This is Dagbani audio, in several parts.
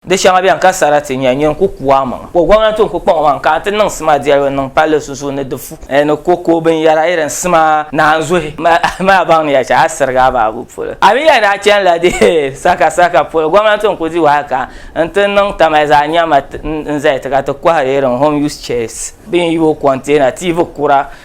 Di shɛŋa beni ka sarati nya nyin ku ku a maŋa, ka o gɔmnanti n-ku kpaŋ o maŋa ka a ti niŋ sima dɛlibu n-niŋ palli sunsuuni ni di fu ni ko ka o binyɛra irin sima naanzuhi maa baŋ ni ya shɛli a sirigi a baabu polo. A mi ya ni a chani la di sakasaka polo gɔmnanti n-ku di wahi ka n-ti niŋ tamali zaa n-nya ma n-zali ti ka ti kɔhiri irin home use chairs, binyubo container, TV kura,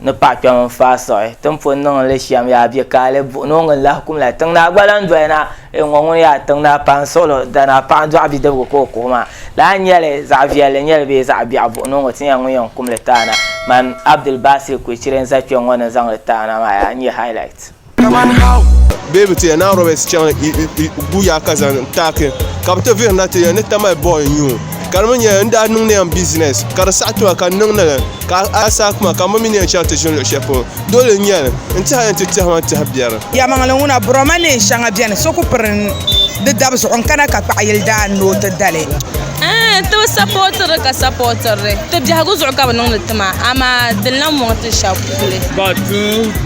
Ni paɣ kpɛm n-faai siɣi ti ni pun niŋ li shɛm yaa bɛ ka a li buɣi ni o ŋun lahi kum la tiŋ naa gba lan doli na ee ŋɔ ŋun yaa tiŋ naa paɣ n-siɣilo dana paɣ dɔɣi bidibiga ka o kuhi maa lala n-nyɛ li zaɣ viɛlli n-nyɛ li bee zaɣ biɛɣu buɣi ni o ŋɔ ti nya ŋun yɛn kum li taana man Abdul Baasir Kulichire n-za kpɛŋ ŋɔ ni zaŋ li taana maa yaa n-nyɛ highlight. Kaman how beebi ti ya Naan Roberts chaŋ guya ka zaŋ taaki ka bi ti vihiri na ti ya ni tamali bɔy n nyu. Ka di mi nyɛla n daa niŋdi ya n business ka di saɣi tima ka n niŋdi li ka a saai kuma ka n bi mi ni yɛn chaŋ ti ʒini luɣi shɛli polo. Dole n nyɛli n tihi a yɛn ti tɛhima n tihi biɛri. Yɛlimaŋli ŋuna, Buroma neen shɛŋa beni so ku piri di dabi zuɣu n-kana ka kpaɣi yili daa ni o ti da li. Tibi sapɔtiri ka sapɔtiri ti biɛhigu zuɣu ka bi niŋdi ti maa amaa dini lan mɔŋ ti shɛb puli. Ka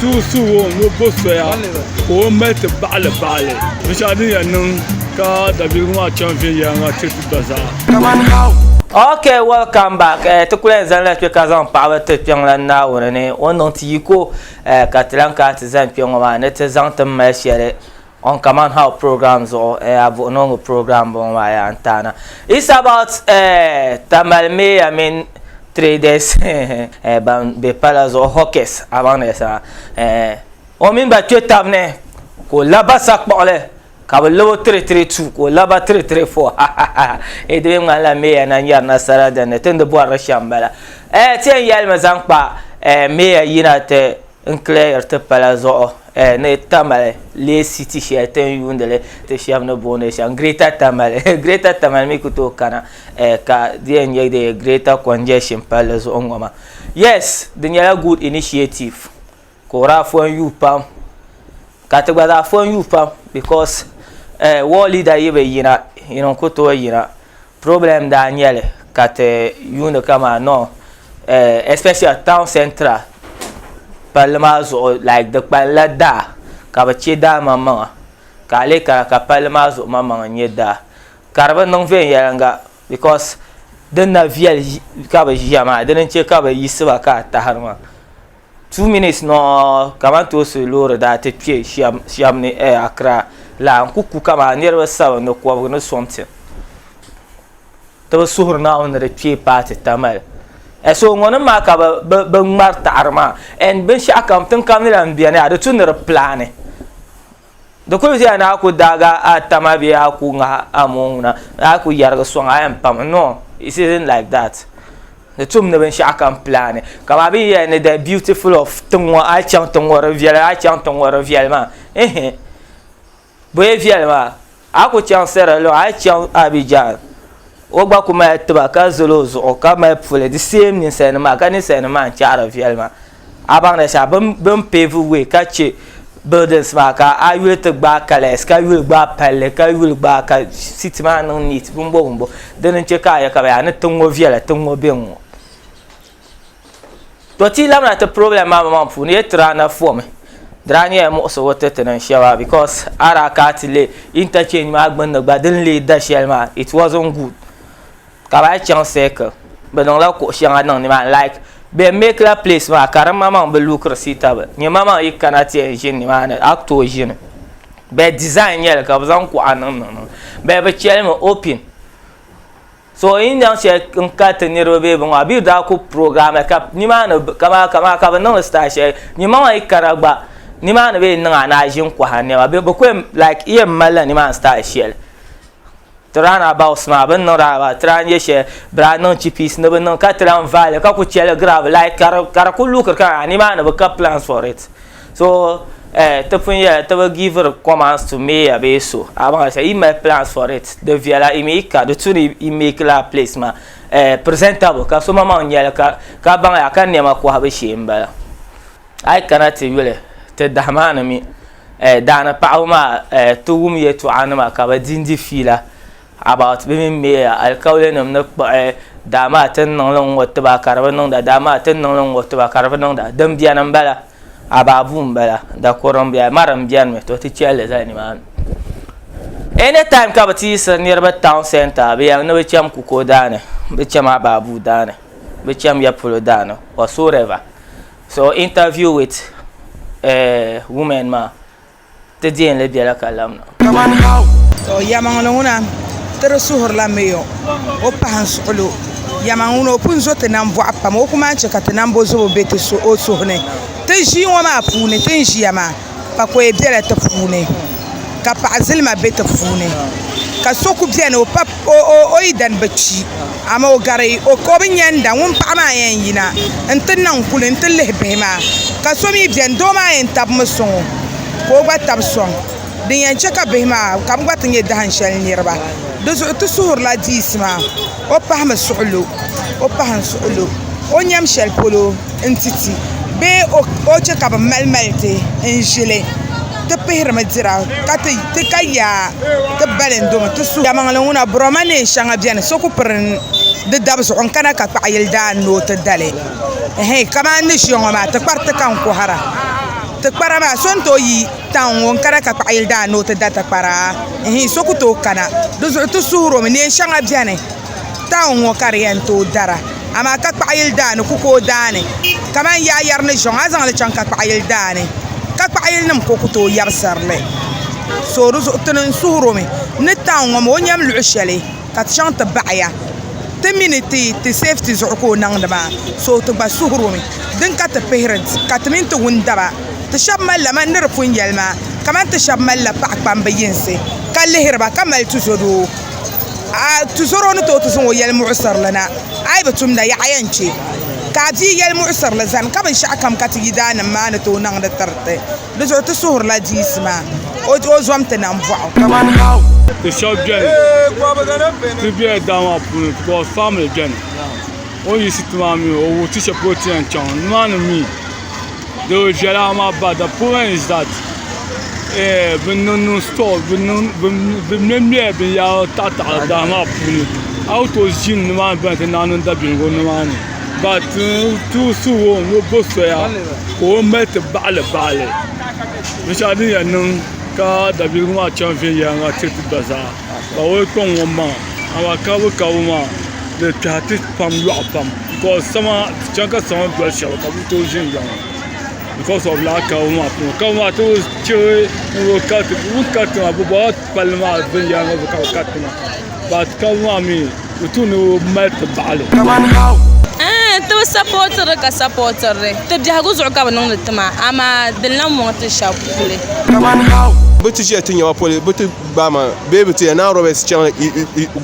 tuhi suhu o ni o bo soya ka o mali ti baɣili baɣili binshɛɣu din yɛn niŋ ka dabiɛligu maa chaŋ viɛnyɛliŋga ti ti gba zaa. Ok welcome back eh, ti kuli zani la kpe ka zaŋ paɣaba ti kpiɔŋlan Naawuni ni o niŋ ti yiko eh, ka ti lan kana ti zani kpe ŋɔ maa ni ti zaŋ ti mali shɛli On Command How program zuɣu eh a vuhi noŋɔ program boŋɔ maa yaa n taana it's about eh Tamale Mayor mini traders eh ban be pala zuɣu hawkers a baŋ ni yɛlisira eh o mini ba kpe tab ni ka o laba sakpuɣili ka bi labo 332 ka o laba 334 ha ha ha eh di mi ŋmanila Mayor na nyari nasara dinni tindi bɔrili shɛm bala eh ti yɛn yɛlimi zaŋ kpa eh Mayor yina ti N clear ti pala zuɣu eh, ni Tamale lee si ti shɛli ti ni yuundi li ti shɛba ni booni shɛm Greater Tamale eh, Greater Tamale mi ku tooi kana eh, ka di yɛn nyɛ di Greater Congestion palli zuɣu n-ŋɔ maa. Yes, di nyɛla good initiative ka o daa fɔn yuui pam ka ti gba zaa fɔn yuui pam because eh, war leader yi bi yina, yin n-ku tooi yina. Problem daa nyɛli ka ti yuuni kama no eh, especially town central palli maa zuɣu like di kpalila daa ka bi chɛ daa maŋmaŋa ka a lee kana ka palli maa zuɣu maŋmaŋa n nyɛ daa ka di bi niŋ viɛnyɛlinga because din na viɛli ka bi ʒiya maa dini n chɛ ka bi yiɣisiba ka a tahiri maa Two minutes nɔɔ kamantoosi loori daa ti kpe shɛm ni eh, Accra la n ku ku kaman niriba sabin ni kɔbigu ni something. Ti bi suhiri Naawuni ni di kpee paati Tamale. Eh, so ŋɔ nim maa ka bɛ ŋmari taɣiri maa and binshɛɣu kam tiŋ kam ni lan beni a di tu ni di plaani. Di kuli viɛla ni a ku daagi a tama bee a ku ŋahi a moo ŋuna ni a ku yɛrigi sɔŋ a yɛn pami no it isn't like that di tum ni binshɛɣu kam plan kaman bɛ ni yɛli ni the beautiful of tiŋ ŋɔ a yi chaŋ tiŋ ŋɔ di viɛli a yi chaŋ tiŋ ŋɔ di viɛli maa ihi bɔyɛ viɛli maa A ku chaŋ Sera luɣa, a yi chaŋ Abijar, o gba ku mali tiba ka zali o zuɣu ka mali puli, the same ninsalinima maa, ka ninsalinima maa n chaɣiri viɛli maa. A baŋda shɛba bɛ bɛ ni pave way ka che buildings maa ka a yuli ti gbaai colours ka yuli gbaai palli ka yuli gbaai ka city maa niŋ neat bimbo bimbo dini n che ka a yɛli ka bɛ yaa ni tiŋ ŋɔ viɛla tiŋ ŋɔ be ŋ-ŋɔ. to ti labina ti problem maa maŋ puuni ye tira na fɔmi dira nyɛla muɣisigu ti ti niŋ shɛba because a daa kana ti lihi interchange maa gbunni gba din lee da shɛli maa it wasn't good ka bi lahi chaŋ circle bi niŋla kuɣu shɛŋa niŋ ni maa ni like bɛ make la place maa ka di maŋmaŋ bi look suitable nyɛ maŋmaŋ yi kana ti yɛn ʒini ni maa ni a ku tooi ʒini but design nyɛli ka bi zaŋ kuɣa niŋ niŋ bɛ bi cheli mi open. So yi ni nyaŋ shɛli n ka ti niriba bee bini maa bɛ yi daa ku program ka ni maa ni ka maa ka maa ka bi niŋli style shɛli ni ma maa yi kana gba ni maa ni bɛ yi niŋ a ni a ʒini kɔhiri nɛma bɛ bi ku yɛn like yi yɛn mali la ni maa ni style shɛli ti round abouts maa bɛ ni niŋ round abouts ti lahi nyɛ shɛli bɛ daa niŋ chippies ni bɛ niŋ ka ti lahi vaai li ka ku chaligira bi like ka di ka di ku luɣiri ka a ni maa ni bi ka plans for it. So eh, ti pun yɛla ti bi giviri commands to mayor bee so abaŋa sa yi mali plans for it di viɛla i mi yi ka di tu ni yi make laa place ma eh, presentable ka so maŋmaŋ nyɛli ka ka baŋ ya ka niɛma kɔhibu shee n bala a yi kana ti yuli ti dahimaa ni mi eh, daani paɣaba maa eh, ti wum yɛltɔɣa nima ka bi di n di fiila About bɛ mini Meya alikaulɛnim ni kpuɣi, daamaa ti ni niŋ li n-ŋɔ ti ba ka di bi niŋda, daamaa ti ni niŋ li n-ŋɔ ti ba ka di bi niŋda. Din beni m-bala, About buu m-bala, dakuri m-beni, Amara m-beni mi, to ti chɛ li zali nimaani. Any time ka bɛ ti yiɣisiri niriba town centre, bɛ yɛli ni bɛ cham Kuko daani, bɛ cham About buu daani, bɛ cham ya polo daani, whatsoever. So interview with women maa. Ti deei li bela ka lamna. Kaman hau. To yamaŋ ni ŋuna ti di suhuri la Mayor o pahi n suɣil o. Yamaŋ ŋuna o pun zo ti nam bɔɣu pam o ku maan chɛ ka ti nam bo zobo be ti o suhu ni. Ti ʒii ŋɔ maa puuni ti ni ʒiya maa pakɔya bela ti puuni ka paɣa zilima be ti puuni ka so ku beni o pa o yidana bi kpi, amaa o gari o ka o bi nya n-da ŋun paɣa maa yɛn yina nti niŋ kuli nti lihi bihi maa. Ka so mi beni, doo maa yɛn tabimi sɔŋ o ka o gba tabi sɔŋ, din yɛn chɛ ka bihi maa ka bɛ gba ti nyɛ dahin shɛli niriba. Di zuɣu ti suhirila diisi maa, o pahimi suɣilo, o pahin suɣilo o nyam shɛli polo. nti ti bee o chɛ ka bɛ malimali ti n-ʒi li, ti pihirimi dira ka ti ka yaa ti balindomi ti suhu. Damaŋli ŋuna Buroma neen shɛŋa beni so ku piri di dab zuɣu n-kana ka kpaɣi yili daa ni o ti da li. Ɛhɛin kamani ni ʒiya ŋɔ maa tikpari ti ka n kɔhira. Tikpara maa so ni tooi yi taun ŋɔ n-kana ka kpaɣi yili daa ni o ti da tikpara? Ɛhɛin so ku tooi kana. Di zuɣu ti suhirimi neen shɛŋa beni. taun ŋɔ ka di yɛn tooi dara amaa ka kpaɣa yili daani ku ka o daani kamani yaayɛri ni ʒiɛɣu a zaŋli chaŋ ka kpaɣa yili daani ka kpaɣa yili nim ka o ku tooi yɛbisirili so dizuɣu ti ni n suhuro mi ni taun ŋɔ maa o ni yɛn luɣu shɛli ka ti chaŋ ti baɣaya ti mi ni ti sɛfiti zuɣu ka o niŋdi maa so ti gba suhuro mi din ka ti pihiri ka ti mini ti wundaba ti shab malila mani ni di pun yɛli maa kamani ti shab malila paɣa kpamba yinsi ka lihiri ba ka mali tizodoo tuzoro ni tooi ti zaŋ o yɛli muɣusirili na a yi bi tumda yaɣa yɛn chɛ ka a bia yɛli muɣusirili zani ka binshaɣu kam ka ti yi daa nim maa ni tooi niŋdi tiriti di zuɣu ti suhurila diisi maa o zom ti nam boɣu ti shab biɛni ti bɛla daa maa puuni because family biɛni o ni yiɣisi ti maa mii o wuhi ti shɛli polo ti ni yɛn chɛŋ nimaani mii doo viɛla maa ba the point is that bi niŋ store bi mɛmɛ bin yahiri taɣi taɣi daa maa puuni a yi tooyi ʒini ni maa ni bɛni ti naai niŋ daabiligu ni maa ni but too soon ni o bo soya ka o mali ti baɣili baɣili binshɛɣu din yɛn niŋ ka daabiligu maa chaŋ viɛnyɛliŋga tiri ti gba zaa. ka o kpɛŋ ŋɔ maŋa amaa kaabu kaabu maa di kpɛhi ti pam lɔɣu pam ka chɛŋ ka sama doli shɛli ka bi tooi ʒinʒiya ŋɔ bikɔs ɔf lala kaabu maa puuni kaabu maa ti bi chɛ ni kariti bi ni kariti maa bi bɔla palli maa viɛnyɛliŋgu zuɣu ka bi kariti maa bat kaabu maa mii di tuunda o bi mali ti baɣali ti bi sapotiri ka sapotiri ti biɛhigu zuɣu ka bi niŋdi ti maa amaa di lahi muŋ ti shɛba puli Gbama bee bi ti yɛn naan Roberts chaŋ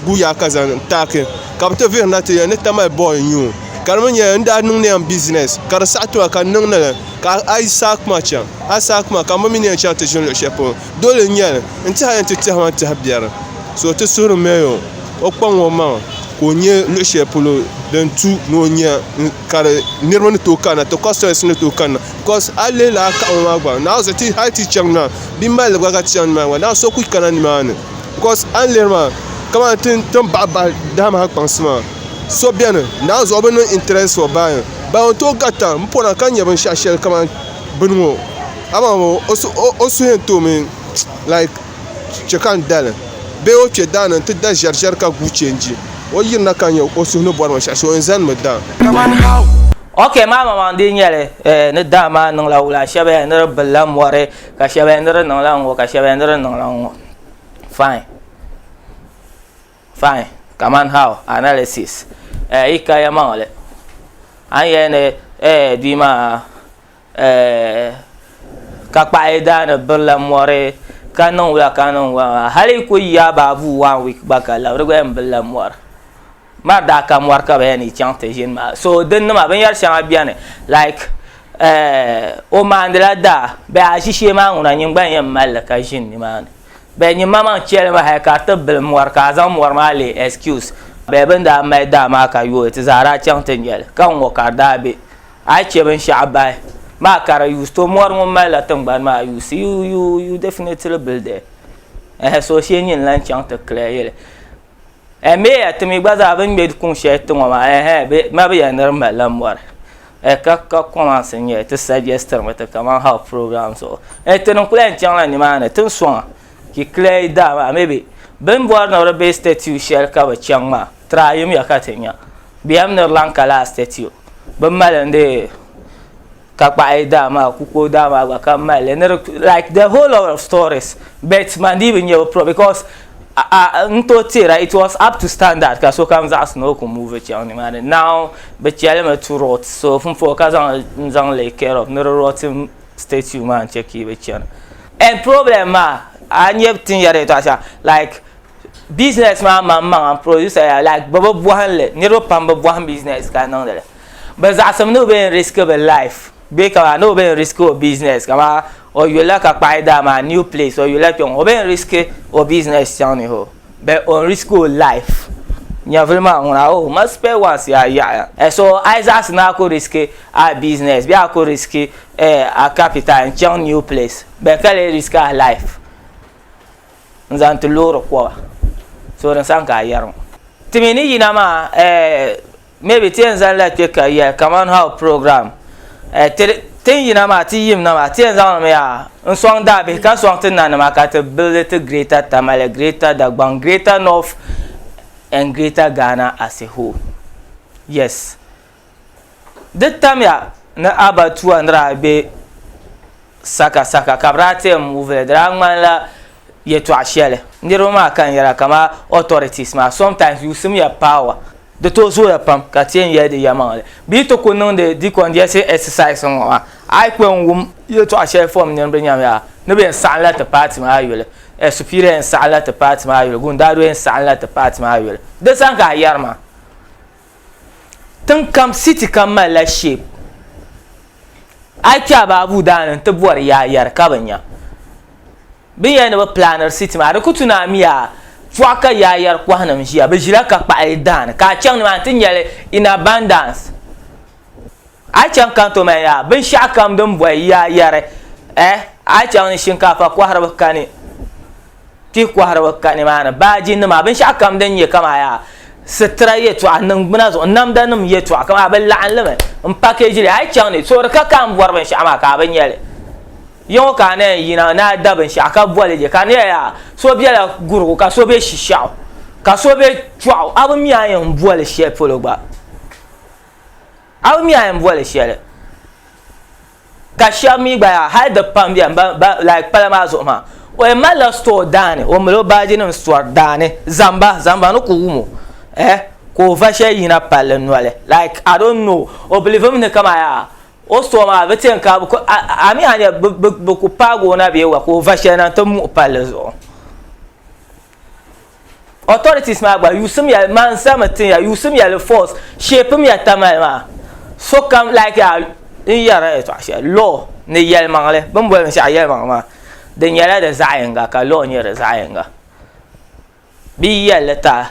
gu yaa ka zaŋ taaki ka bi ti vihirina ti yɛn ni tamali bɔɔl n nyu o. Ka di mi nyɛla n daa niŋ niyam bizinɛs ka di saɣi tima ka n niŋ ni li ka a yi saai kuma chaŋ a yi saai kuma ka n bi mi ni yɛn chaŋ ti ʒini luɣ shɛli polo. Dole n nyɛli n tiɛha yɛn ti tɛhima n tɛhi biɛri. So ti suhuri mɛya o, o kpaŋ o maŋa ka o nya luɣ shɛli polo din tu ni o nya ka di niriba ni tooi kanna ti kɔsitɔyɛnsi ni tooi kanna. because a yi lihi laa kaɣa ŋɔ maa gba n naai zuɣu hali ti chaŋ na bia malli gba ka ti chaŋ nimaani maa so ku kana nimaani because a ni lihiri maa kamani ti ni baɣa baɣa daa maa kpaŋsi maa so biɛni naanzuhi bi niŋ interest for buying ban yɛn tooi garita n pona ka nyɛ binshaɣu shɛli kamani bini ŋɔ amaa ŋɔ o suhu yɛn toomi like chɛ ka n dali bee o kpɛ daani n ti da ʒɛri ʒɛri ka guui chɛnji o yirina ka nyɛ o suhu ni bɔri binshaɣu shee o yɛn zani mi daam Ok maa mamaŋ di nyɛli eh, ni daa maa niŋla wula shɛba ya ni di bilila mɔri ka shɛba ya ni di niŋla ŋɔ ka shɛba ya ni di niŋla ŋɔ fine fine kaman how analysis eh, yi ka ya maŋli a ni yɛli ni eh, bia maa Ka kpaɣi daani birila mori ka niŋ wula ka niŋ wula maa hali yi kuli yi abaavuu wan wiik gba ka lab di gba yɛn birila mori maa daa ka mori ka bi yɛn ni chaŋ ti ʒini maa so din nima binyɛri shɛŋa biɛni laik o maandila daa bee aʒishee maa ŋuna nyin gba n yɛn malli ka ʒini nimaani bee nyin ma maŋ chɛli mi hali ka di ti bili mori ka a zaŋ mori maa leei ɛskius bee bin daa mali daa maa ka yooi ti zaa daa chaŋ ti nyɛli ka n ŋɔ ka di daa bɛ A yi chɛ binshɛɣu bahi maa ka di yuusi, to mɔri ŋun malila tiŋgbani maa yuusi, you, you, you definitely built there. Ɛhɛ, so shee nyin lan chaŋ ti clear yili. Ɛh, Mayor ti mi gba zaa bɛ ni ŋme kuŋ shɛli ti ŋɔ maa, ɛhɛ, bɛ ma bɛ ya ni di malila mɔri. Ɛh, ka, ka comments n-nyɛ ti suggest-ri mi ti kaman how program zuɣu. Ɛh, ti ni n-kuli yɛn chaŋ la nimaani ti ni sɔŋ a ki clear yi daa maa, maybe bɛ ni bɔri ni di be statue shɛli ka bɛ chaŋ maa. Tra yim ya ka ti nya. Bɛ yɛm ni di lan ka laa statue. Bɛ mali n di ka kpaɣi daa maa ku ka o daa maa gba ka mali li ni di like the whole lot of stories but man dii bi nya bi pro because a n tooi teera it was up to standard ka sokam zaɣisi ni o ku move chaŋ nimaani now bɛ cheli mi to rot so m puhi ka zaŋ li n zaŋ lay care of ni di rotting statue maa n che ka yi bi chana and problem maa a nya tin yɛri yɛtɔɣa shɛŋa like. Business maa maŋ maŋa n producer ya like bɛ bi bohim li niriba pam bi bohim business ka niŋdi li bɛ zaɣasim ni o be yɛn risk bɛ life bee ka maa ni o be yɛn risk o business ka maa o yulila ka kpahi daa maa new place o yulila kpeŋɔ o be yɛn risk o business chaŋ ni hoo but o risk o life nyɛvuli maa ŋuna hoo o mali spare ones yaa yaɣiya eh so a yi zaɣasim ni a ku risk a business bee a ku risk eh a capital n chaŋ new place bɛ ka lee risk a life. n zaŋ ti loori koba so di sani ka a yɛri ŋɔ ti mi ni yina maa eh, maybe ti yɛn zaŋla kpɛ ka yɛli kaman how program eh, ti tin yina maa ti yim na maa ti yɛn zaŋli mi yaa n sɔŋ daabihi ka sɔŋ ti na nima ka ti buildi ti greater tamale greater dagbaŋ greater north and greater ghana as a whole yes Di tamya ni abatuwa ni daa be sakasaka ka bɛ daa tɛm muvi li di daa ŋmanila yɛtɔɣ shɛli niriba maa ka n yɛra kamani authorities maa sometimes yusim ya power di tooi zooya pam ka ti yɛn yɛli di yɛlimaŋli bɛ yi ti ku niŋdi decongestion exercise ŋɔ maa a yi kpɛm wum yɛtɔɣ shɛli fom nini bɛ nyam ya ni bɛ yɛn saɣimla ti paati maa yuli Superior yɛn saɣimla ti paati maa yuli Gundado yɛn saɣimla ti paati maa yuli di sani ka a yɛri maa Tiŋ kam city kam malila shape a yi kpɛ a baabu daa ni n ti bɔri yaa yari ka bi nya bi ni yɛli ni bi planiri city maa di ku tu ni a mi yaa pɔɣa ka yaa yari kɔhinim ʒiya bi ʒila ka kpaɣili daani ka a chaŋ ni maa ni ti nyɛli in abundance A chaŋ ka n to ma yaa, binshɛɣu kam din bɔhi ya yɛri, eh, a chaŋ ni shinkaafa kɔhiriba kani, kpihi kɔhiriba ka nimaani, baajinima, binshɛɣu kam din nyɛ kaman yaa sitira yɛtɔɣa, niŋgbuna zuɣu, namdanima yɛtɔɣa, kaman bɛ laɣim li mi m-package li, a yi chaŋ ni, toori ka ka m bɔri binshɛɣu maa ka a bi nya li. Ya ŋɔ ka a ni yɛn yina ni a da binshɛɣu ka boli li, ka di nyɛla yaa so bela Gurigu ka so be Shishɛɣu ka so be Kpiɔɣu, a bi mi a ni yɛn boli shɛli polo gba. A mi a yɛn boli shɛli ka shɛba mi gba yaa hali di pam bɛni ban ban like pala maa zuɣu maa o yɛn mali la store daani o mali o baaji nim store daani zamba zamba ni ku wum o eh ka o va shɛli yina palli noli like I don't know o believe mi ni ka maa yaa o store maa bi ti yɛn ka bi ku a a mi a ni yɛli bi bi bi ku paagi o na bee wa ka o va shɛli na n ti muɣi palli zuɣu. authorities maa gba yusim ya man sami tin ya yusim ya li force shape mi ya tamali maa so kam like ya n yɛra ya tɔɣa shɛli law ni yɛlimaŋli bi ni boli binshaɣu yɛlimaŋli maa di nyɛla di zaɣ yinga ka law nyɛ di zaɣ yinga bi yi yɛlli taa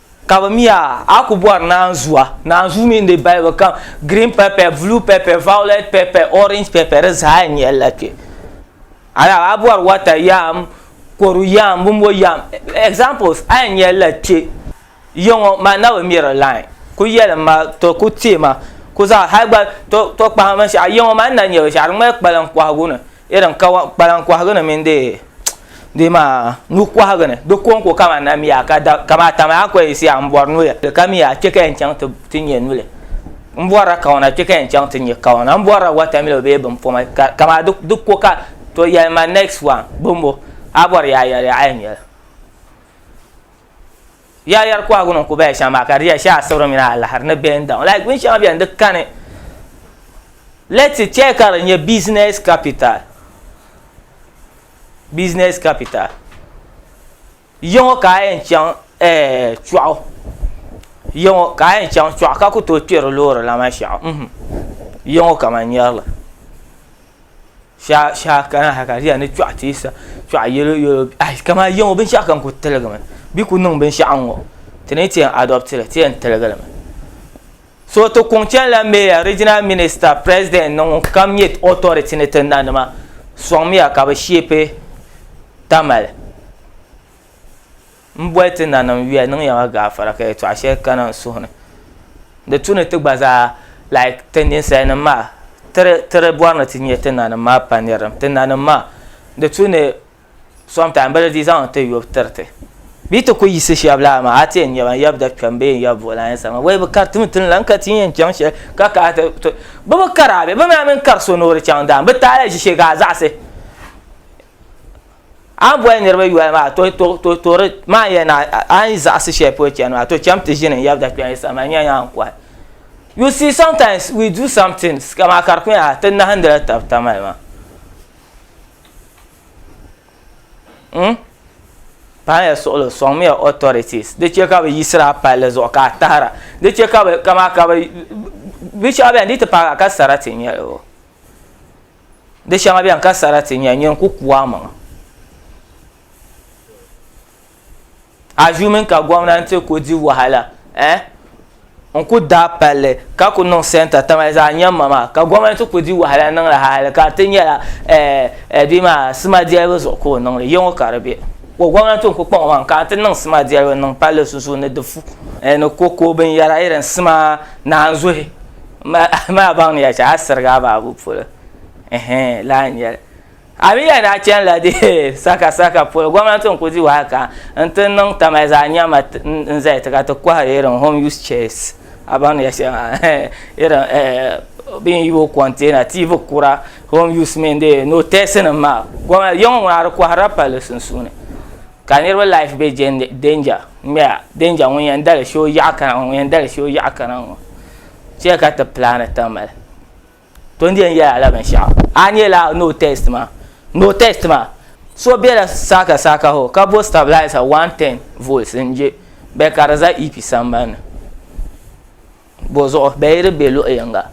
Ka bɛ mi a, a ku bɔri naanzua. Naanzuu mi n-di balibu kam, green pepper, blue pepper, violet pepper, orange pepper, di zaa n-nyɛ li la kpe. Alahi a bɔri water yam, kodu yam, bimbo yam, examples, a yɛn nya li la kpe. Yiŋɔ man na bi mi di line. Ku yɛli m ma, to ku teei ma, ku zaŋ hali gba, to kpahim binshɛɣu, yiŋɔ man n na nya binshɛɣu, di ŋmanila kpalaŋ kɔhigu ni. irin kpalan kɔhigu ni mini di maa nuhi kɔhigu ni di ko n-ko kamani na miya ka da kamaa tami a kɔyi siya m-bɔri nuya ka miya a kpe ka yɛn chaŋ ti nyɛ nuli m-bɔrila kawana kpe ka yɛn chaŋ ti nyɛ kawana m-bɔrila watamilo bee bimpɔma ka kamaa di ko ka to yɛli ma next one bɔmbo a bɔri yaayɛli a yɛn nyɛli Yaayɛri kɔhigu ni ku baya shɛŋa maa ka di yɛli shɛli asibirim mini alahiri ni bɛ ni daŋ like bin shɛŋa bɛni di kani let's say chɛli ka di nyɛ business capital business capital yiŋɔ ka a yɛn chaŋ chuɣu yiŋɔ ka a yɛn chaŋ chuɣu ka ku tooi kpɛri loori la maa shɛɣu yiŋɔ ka man nyɛrili. Sha sha kana ha ka di yɛn ni kpɛɣu teesa kpɛɣu yɛlo yɛlo ayi ka maa yiŋɔ binshɛɣu kam kuli tiligi mi bi kuli niŋ binshɛɣu n ŋɔ ti ni ti yɛn adopti li ti yɛn tiligi li mi so ti kuŋ chɛn la mɛya riginal minista pirɛsidɛnt ni ŋun kam nyɛ ɔtɔriti ni ti na nima sɔŋ miya ka bi shɛpi tamali. M boli ti nanim yuya niŋ ya ma gaafara ka yɛtɔɣa shɛli kana n suhu ni di tu ni ti gba zaa like ti ninsalinim maa tiri tiri bɔri ni ti nyɛ ti nanim maa pa nirilim ti nanim maa di tu ni sometime bɛ di di zaŋ ti yɔbu tiri ti bee ti kuli yisi shɛb laa maa a ti yɛn nyɛba n yab da kpɛm bee n yab buɣi lan yɛsa maa wei bɛ kari timi tini la n ka ti yɛn chaŋ shɛli ka kana ti to bɛ bi kari a bɛ bɛ mi a mini kari so ni o di chaŋ daani bɛ taali ʒi shɛli ka a zaɣisi A ni boli niriba yoli maa, to, to, to, to di, maa yɛli na, a ni zaɣisi shɛli polo chani maa, to cham ti ʒini n-yab dakpɛli sani maa, n-yɛn yaa n-kɔhi. You see, sometimes we do some things, ka maa ka di ku nyɛla ti nahindila tab tamali maa. Huh? Paɣi ya suɣili o sɔŋ mi ya authorities di chɛ ka bɛ yiɣisiri a palli zuɣu ka a tahira di chɛ ka bɛ ka maa ka bɛ binshɛɣu bɛni di yi ti paagi a ka sarati n-nyɛ li o. Di shɛŋa beni ka sarati nya nyin ku ku amaŋa. Assuming ka gomnanti ku di wahala eh n ku daai palli ka ku niŋ centre tamali zaɣa nyamma maa ka gomnanti ku di wahala niŋli hali ka di ti nyɛla eh bia maa sima delibu zuɣu ka o niŋli yeŋɔ ka di be ko gomnanti n ku kpaŋ o maŋa ka n ti niŋ sima delibu n niŋ palli sunsuuni di fu ni cocoa binyera irin sima naanzuhi. Maa baŋ ni ya chɛ a sirigi a baabu polo ɛhɛn lahi nyɛli a mi ya ni a chani la deei saka saka polo gomnati n ku di wahi ka n ti niŋ tamali zaa nyama n zali ti ka ti kɔhiri irin home use chairs a baŋ ni ya shɛli maa irin bɛ ni yibo container TV kura home use mini dee notɛsi nim maa gomnati ya ŋɔ ŋuna a di kɔhiri la palli sunsuuni ka niriba life bɛ danger n ŋmɛya danger ŋun yɛn dali shɛ o yaɣi kana ŋɔ ŋun yɛn dali shɛ o yaɣi kana ŋɔ. Chɛ ka ti plaani tiŋ mali. To n yɛn yɛla la binshaɣu. A ni yɛla no test maa. No test maa. So bela saaka saaka hɔ ka bo stabilizer 110 volts n je bɛ ka di za EP sambani ni. Bo zuɣu bɛ yi di be luɣi yinga.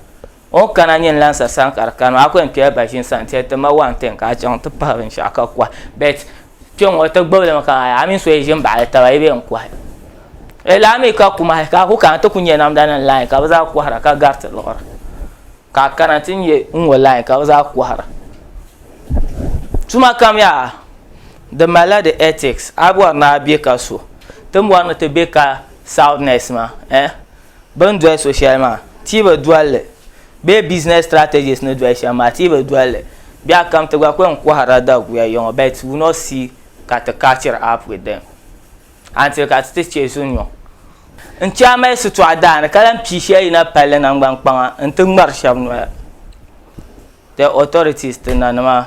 O ni kana nyini lansa sani ka di kani maa a ku yɛn kpɛla baʒini sani n-ti yɛli ti ma 110 ka a chaŋ ti pahi binshaɣu ka kuhi. But Kpe ŋɔ ti gbibili mi ka a mini so yi ʒi m-baɣili taba yi be n-kuhi. Di laa mi ka kumahi ka a ku kana ti ku nya namdanima lain ka bɛ zaa kɔhira ka gari ti luɣiri. Ka a kana ti nya n ŋɔ lain ka bɛ zaa kɔhira. Tuma kam yaa di malila di ethics. A bɔri ni a be ka so ti bɔri ni ti be ka soundness maa eh. Bɛ ni doli so shɛli maa, ti bi doli li. Bee business strategists ni doli shɛm maa, ti bi doli li. Biɛɣu kam ti gba ku yɛn kɔhirila daguya yiŋɔ but we not see ka ti catchiri up with them until ka ti ti chɛ zunyɔ. N chɛ a mali shitɔɣu daa ni ka lahi pii shɛli yina palli naŋgban kpaŋa nti ŋmari shɛba noya, the authorities, ti nanima.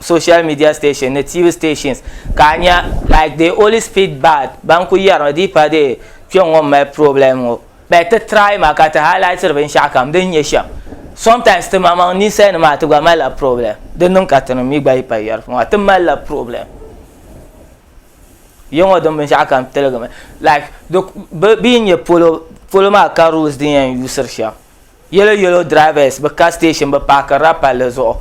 social media station ni tv stations ka nya like the holy speed bad ban ku yɛrimi di pa dee kpɛ ŋɔ mali problem ŋɔ bɛ ti try ma ka ti highlightiri binshɛɣu kam din nyɛ shɛm sometimes ti maŋmaŋ ninsal nima ti gba malila problem di niŋ ka tinim mi gba yi pa yɛri ŋɔ ti malila problem ya ŋɔ din binshɛɣu kam tiligimi like bɛ yi nyɛ polo polo maa ka rules din yɛn yuusiri shɛm Yellow yellow drivers bi ka station bi paakirila palli zuɣu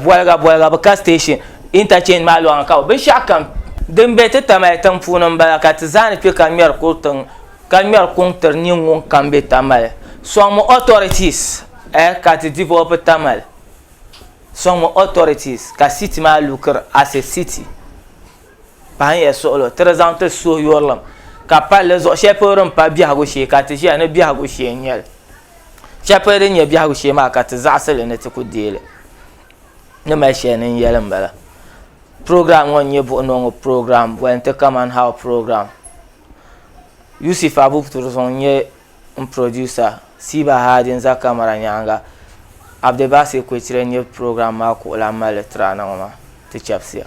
boliga boliga bi ka station interchange maa loŋni ka binshaɣu kam din bɛ ti tamali tiŋ puuni n bala ka ti zaa ni kpɛ ka ŋmɛri kuri tiŋ ka ŋmɛri kuŋ tiri niŋ ŋunkam bɛ tamali soŋmi authorities ka ti develop tamali soŋmi authorities ka city maa look as a city. Pahin ya suɣilo tiri zaŋ ti suhu yurilim ka pali di zuɣu shɛli polo din pa biɛhigu shee ka ti ʒiya ni biɛhigu shee n nyɛli shɛli polo din nyɛ biɛhigu shee maa ka ti zaɣasili ni ti ku deeli ni mali shɛli ni n yɛli n bala program ŋo n nyɛ buɣunongo program boli n ti kaman how program yusuf abu turzɔŋ n nyɛ n producer siba haadi n za kamara nyaanga abdibasi kuchire n nyɛ program maa kuɣulan mali tirana ŋo maa ti chɛbisiya